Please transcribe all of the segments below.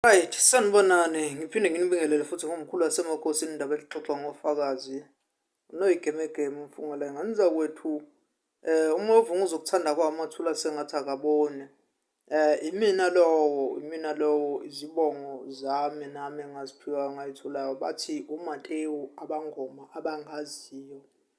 Right, sanibonani ngiphinde nginibingelele futhi ngomkhulu wasemakhosi indaba elixoxa ngofakazi unoyigemegeme umfungela nganiza kwethu eh uma uvunga uzokuthanda kwami wathula sengathi akabone eh imina lowo imina lowo izibongo zami nami engaziphiwa ngayithulayo bathi uMatewu abangoma abangaziyo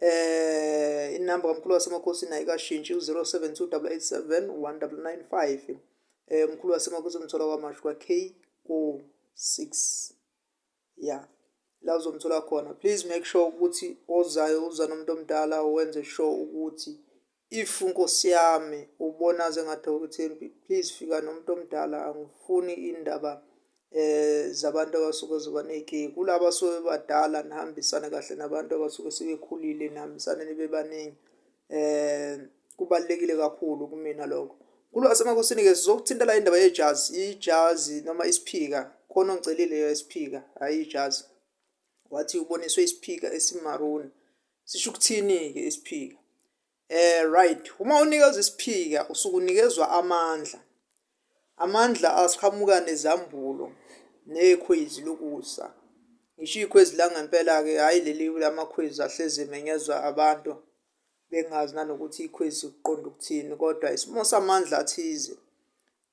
Eh inamba kamkhulu wasemakhosini ayikashintshi u-0728871995. Eh umkhulu wasemakhosini umthola kwamashu kwa KO6. Yeah. La uzomthola khona. Please make sure ukuthi ozayo uza nomuntu omdala wenze sure ukuthi If nkosi yami ubona sengathi awuthembi please fika nomuntu omdala angifuni indaba eh zabantu abasuke zoba ney'kiki kulaba abasuke bebadala nihambisane kahle nabantu abasuke sebekhulile nihambisane nibe baningi eh kubalulekile kakhulu kumina lokho kulwasemakosini-ke sizokuthinta la indaba yejazi ijazi noma isiphika khona ongicelile isiphika hhayi ijazi wathi uboniswe isiphika esimaruni sisho ukuthini-ke isiphika eh right uma unikezwa isiphika usuke unikezwa amandla amandla asiqhamuka nezambulo nekhwezi lokusa ngisho ikhwezi la ngempela-ke hhayi leli lamakhwezi ahlezi emenyezwa abantu bengazi nanokuthi ikhwezi kuqonda ukuthini kodwa isimo samandla athize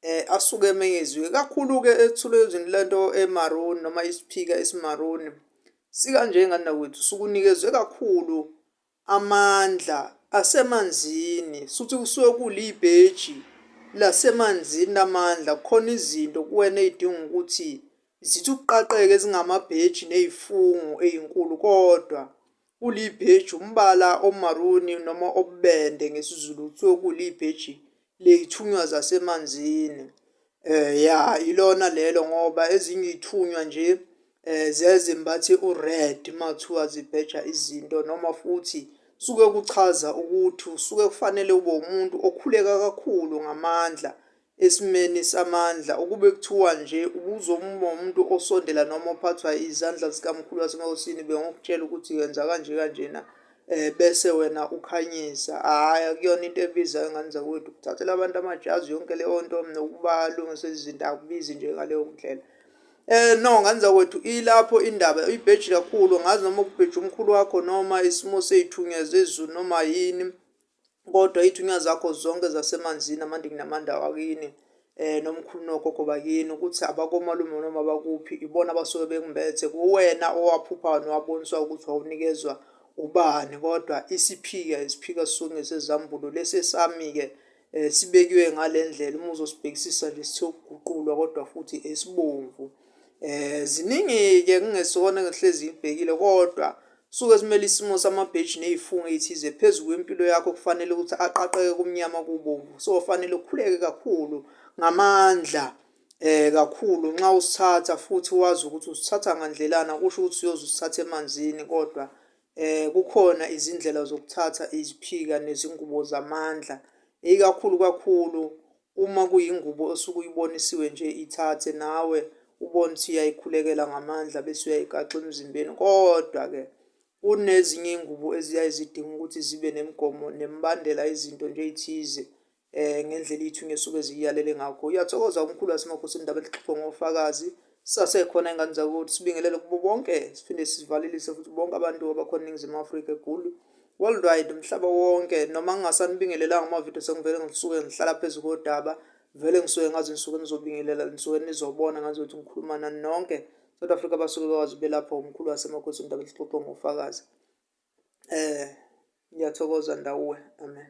eh asuke emenyeziwe kakhulu ke ethulwe ezweni lento eMaroon noma isiphika esiMaroon sika nje ngani nakwethu sukunikezwe kakhulu amandla asemanzini suthi kusuke kulibheji lasemanzini namandla khona izinto kuwena ezidinga ukuthi zithi ukuqaqeke zingamabheji nezifungo ezinkulu kodwa Ulibheji umbala omaruni noma obubende ngesiZulu kuthiwa kuwulibheji ley'thunywa zasemanzini. Ya ilona lelo ngoba ezinye iy'thunywa nje ziyaye zimbathe u-red uma kuthiwa zibheja izinto noma futhi suke kuchaza ukuthi usuke kufanele ube umuntu okhuleka kakhulu ngamandla, Esimeni samandla, ukube kuthiwa nje ubuzomuma umuntu osondela noma ophathwa izandla zikaMkhulu waseNkosini, bengokutshela ukuthi yenza kanje kanjena, um bese wena ukhanyisa. Hhayi, akuyona into ebizayo, ngane zakwethu. Ukuthathela abantu amajazi, yonke leyo nto, nokubalungisela izinto, akubizi nje ngaleyo ndlela. Eh no ngane zakwethu ilapho indaba uyibheji kakhulu ngazi noma ukubheja umkhulu wakho noma isimo seyithunywa zezulu noma yini kodwa ithunywa zakho zonke zasemanzini amandingi namanda wakini eh nomkhulu nogogo bakini ukuthi abakomalume noma bakuphi ibona abasuke bekumbethe kuwena owaphuphayo nowaboniswa ukuthi wawunikezwa ubani kodwa isiphika isiphika sisuke ngesezambulo lesi esami-ke um sibekiwe ngale ndlela uma uzosibhekisisa nje sithe ukuguqulwa kodwa futhi esibomvu Eh ziningi-ke kungesona engihlezi ngibhekile kodwa suke simele isimo samabheji ney'fungo ey'thize phezu kwempilo yakho kufanele ukuthi aqaqeke kumnyama kubomvu so fanele ukhuleke kakhulu ngamandla eh kakhulu nxa usithatha futhi wazi ukuthi usithatha ngandlelana kusho ukuthi uyoze usithathe emanzini kodwa eh kukhona izindlela zokuthatha iziphika nezingubo zamandla ikakhulu kakhulu Uma kuyingubo osuke uyibonisiwe nje ithathe nawe ubone ukuthi uyayikhulekela ngamandla bese uyayigaxa emzimbeni. Kodwa-ke kunezinye iy'ngubo eziyaye zidinga ukuthi zibe nemigomo nemibandela izinto nje ey'thize um ngendlela iy'thunywa esuke ziyiyalele ngakho. Uyathokoza umkhulu waseMakhosini Ndaba elixoxwe ngofakazi Sasekhona ingane zakuthi sibingelele kubo bonke siphinde sivalelise futhi bonke abantu abakhona eningizimu afrika egulu worldwide umhlaba wonke noma ngingasanibingelelanga amavidiyo sengivele ngisuke ngihlala phezu kodaba vele ngisuke ngazi ngisuke nizobingelela nisuke nizobona ngazi ukuthi ngikhuluma nani nonke south africa basuke bekwazi belapha umkhulu wasemakhosi indaba lixoxwe ngofakazi um ngiyathokoza ndawuwe amen